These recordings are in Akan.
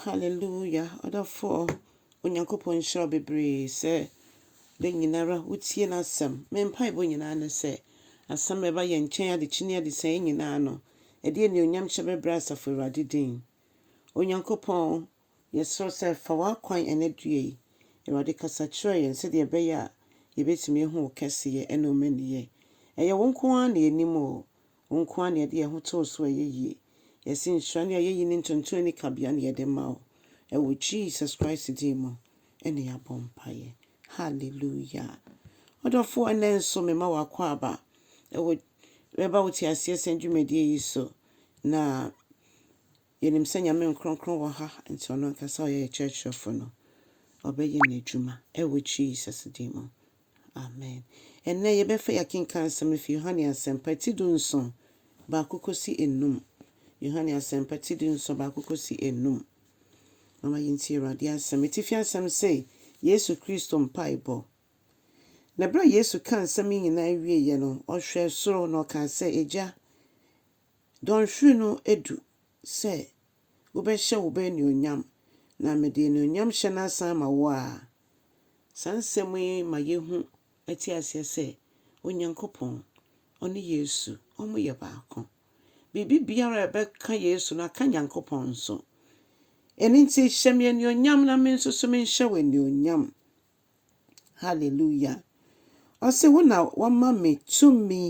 Hallelujah ɔdɔfoɔ Onyankopɔn nhyira wo bebree sɛ da nyinara wotie n'asɛm. Me mpaebɔ nyinaa ne sɛ asɛm a ɛba yɛn nkyɛn adekye ne adesɛn yi nyinaa no ɛde anuonyam hyɛ bɛbrɛ asafo Awurade din. Onyankopɔn yɛsrɛ sɛ fa w'akwan ɛnɛ dua yi Awurade kasa kyerɛ yɛn sɛdeɛ ɛbɛyɛ a yɛbɛtumi ahu wo kɛseyɛ ɛne wo mmaniyɛ. Ɛyɛ wo nko ara na yɛnim o, Wo nko ara na yɛde yɛn ho to wo so a ɛyɛ yie. Yɛse nhyira ne ayɛyi ne ntontom ani kabea na yɛde ma wo. Ɛwɔ Jesus Christ din mu na yɛabɔ mpaeɛ. Hallelujah. Ɔdɔfoɔ ɛnɛ nso mema w'akwaaba ɛwɔ ɛba wo teaseɛ sɛn dwumadie yi so na Yɛnim sɛ Nyame nkrɔnkrɔn wɔ ha nti ɔno ankasa ɔyɛ yɛ kyerɛkyerɛfo no ɔbɛyɛ n'adwuma ɛwɔ Jesus din mu amen. Ɛnnɛ yɛbɛfa yi akenkan asɛm afi Yohane asɛmpa ti du nson baako kɔsi ɛnum Yohane asɛmpa ti du nson baako kɔsi ɛnum Momma yɛntie Awurade asɛm atifi asɛm se Yesu Kristo mpaebɔ Na berɛ a Yesu kaa nsɛm yi nyinaa wieeɛ no ɔhwɛɛ soro na ɔkaa sɛ Agya Dɔnhwere no adu sɛ wobɛhyɛ wo ba anuonyam, na mede anuonyamhyɛ no asan ama wo ara. Saa nsɛm yi ma yehu te aseɛ sɛ Onyankopɔn, ɔne Yesu, wɔyɛ baako. Biribi biara a ɛbɛka Yesu no aka Nyankopɔn nso. Ɛno nti, hyɛ me anuonyam na me nso so menhyɛ wo anuonyam. Hallelujah! Ɔse, Wo na woama me tumi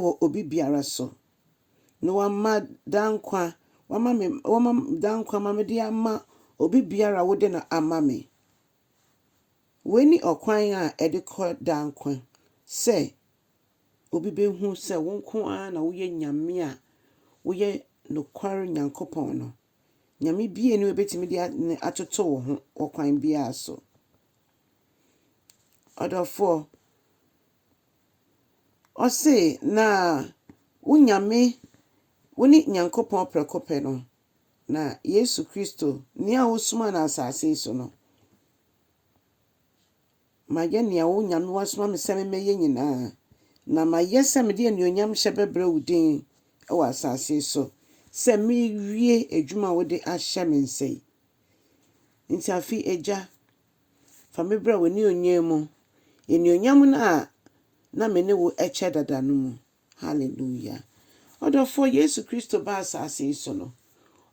wɔ obi biara so, na woama daa nkwa, woama me, woama daa nkwa ma mede ama obi biara a wode no ama me. Wei ne ɔkwan a ɛde kɔ daa nkwa, sɛ obi bɛhu sɛ wo nko ara na woyɛ Nyame a woyɛ nokware Nyankopɔn no. Nyame bue no ebetumi de ne atoto wo ho wɔ kwan biara so. Ɔdɔfoɔ, ɔse na wo Nyame, wo ne Nyankopɔn prɛko pɛ no, na Yesu Kristo, nea wosomaa no asase yi so no, Mayɛ nea wo nyamewa soma me sɛ memmɛyɛ nyinaa, na mayɛ sɛ mede anuonyamhyɛ bɛbrɛ wo din wɔ asase so, sɛ merewie adwuma a wode ahyɛ me nsa yi. Enti afei, Agya, fa me brɛ w'anuonyam mu, anuonyam no a na me ne wo kyɛ dada no mu. Hallelujah! Ɔdɔfoɔ, Yesu Kristo baa asase yi so no,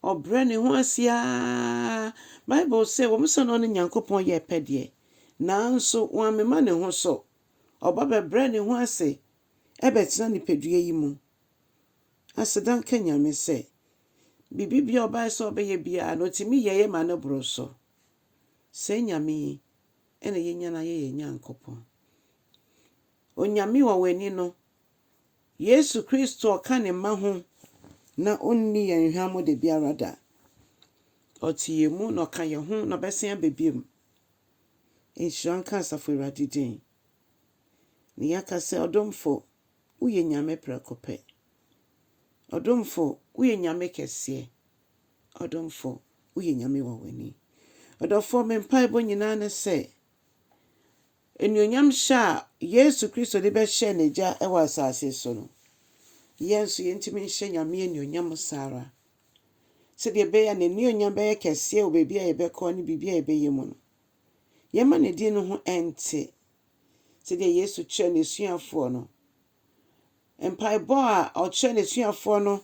Ɔbrɛ Ne ho ase araa. Bible se, Wɔn sɛ na ɔne Nyankopɔn yɛ pɛ deɛ, nanso wammema Ne ho so. Ɔba bɛbrɛɛ Ne ho ase bɛtena nipadua yi mu. Aseda nka Nyame sɛ, biribi biara ɔbaeɛ sɛ ɔbɛyɛ biara no, ɔtumi yɛeɛ ma no boro so. Saa Nyame yi na yɛnya no ayɛ yɛn Nyankopɔn. Onyame wɔ w'ani no, Yesu Kristo ɔka ne mma ho na ɔnni yɛn hwammɔ da biara da. Ɔte yɛn mu na ɔka yɛn ho na ɔbɛsan aba biom. Nhyira nka Asafo Awurade din. Ne yɛaka sɛ ɔdomfo woyɛ Nyame prɛko pɛ. Ɔdomfo woyɛ Nyame kɛseɛ. Ɔdomfo woyɛ Nyame wɔ w'ani. Ɔdɔfoɔ me mpaebɔ nyinaa ne sɛ. Anuonyam hyɛ a Yesu Kristo de bɛhyɛ n'Agya wɔ asase so no, yɛn nso yentumi nhyɛ Nyame anuonyam saa ara. Sɛdeɛ ɛbɛyɛ a n'anuonyam bɛyɛ kɛseɛ wɔ baabi a yɛbɛkɔ ne biribi a yɛbɛyɛ mu no, yɛmma ne din no ho nte. Sɛdeɛ Yesu kyerɛɛ n'asuafoɔ no, Mpaebɔ a ɔkyerɛ n'asuafoɔ no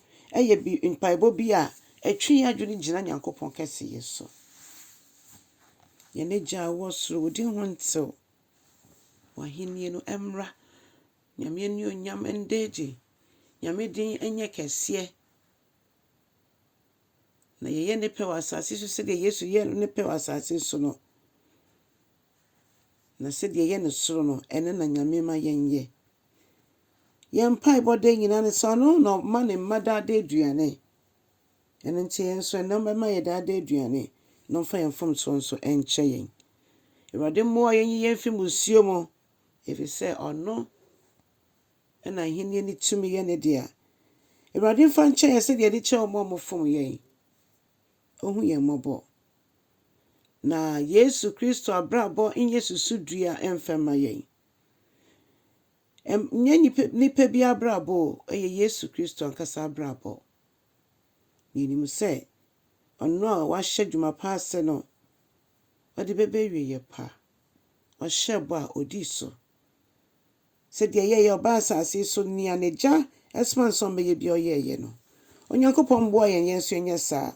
yɛ bi mpaebɔ bi a ɛtwe yɛn adwene gyina Nyankopɔn kɛseyɛ so. Yɛn Agya a ɔwɔ soro, wo din ho ntew. W'ahennie no mmra. Nyame anuonyam nda adi. Nyame din nyɛ kɛseɛ. Na yɛyɛ ne pɛ wɔ asase so sɛdeɛ Yesu yɛɛ ne pɛ wɔ asase so no. Na sɛdeɛ ɛyɛ ne soro no, ɛno na Nyame ma yɛnyɛ. Yɛn mpaebɔ da nyinaa ne sɛ ɔno na ɔma ne mma daa daa aduane. Ɛno nti yɛn nso ɛnnɛ ɔbɛma yɛ daa daa aduane na ɔmfa yɛn mfomsoɔ nso nkyɛ yɛn. Awurade mmoa yɛn nyi yɛn mfiri mmusuo mu, ɛfiri sɛ ɔno na ahennie ne tumi yɛ ne dea. Awurade mfa nkyɛ yɛn sɛdeɛ yɛde kyɛ wɔn a wɔfom yɛn. ohu yɛn mmɔbɔ. Na Yesu Kristo abrabɔ nyɛ susudua mfa mma yɛn. Ɛnyɛ nnipa bi abrabɔ o, ɛyɛ Yesu Kristo ankasa abrabɔ. Na yɛnim sɛ ɔno a wahyɛ dwuma pa ase no, ɔde bɛba awieeɛ pa. Ɔhyɛɛ bɔ a ɔdii so. Sɛ deɛ yɛyɛ ɔbaa asase so nea n'agya soma no sɛ ɔmmɛyɛ biara ɔyɛeɛ no. Onyankopɔn mmoa yɛn yɛn nso yɛnyɛ saa.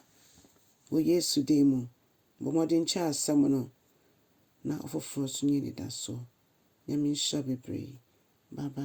Wɔ Yesu din mu, bɔ mmɔden kyɛ asɛm no na ɔfoforɔ nso nya anidasoɔ. Nyame nhyira bebree. Bye bye.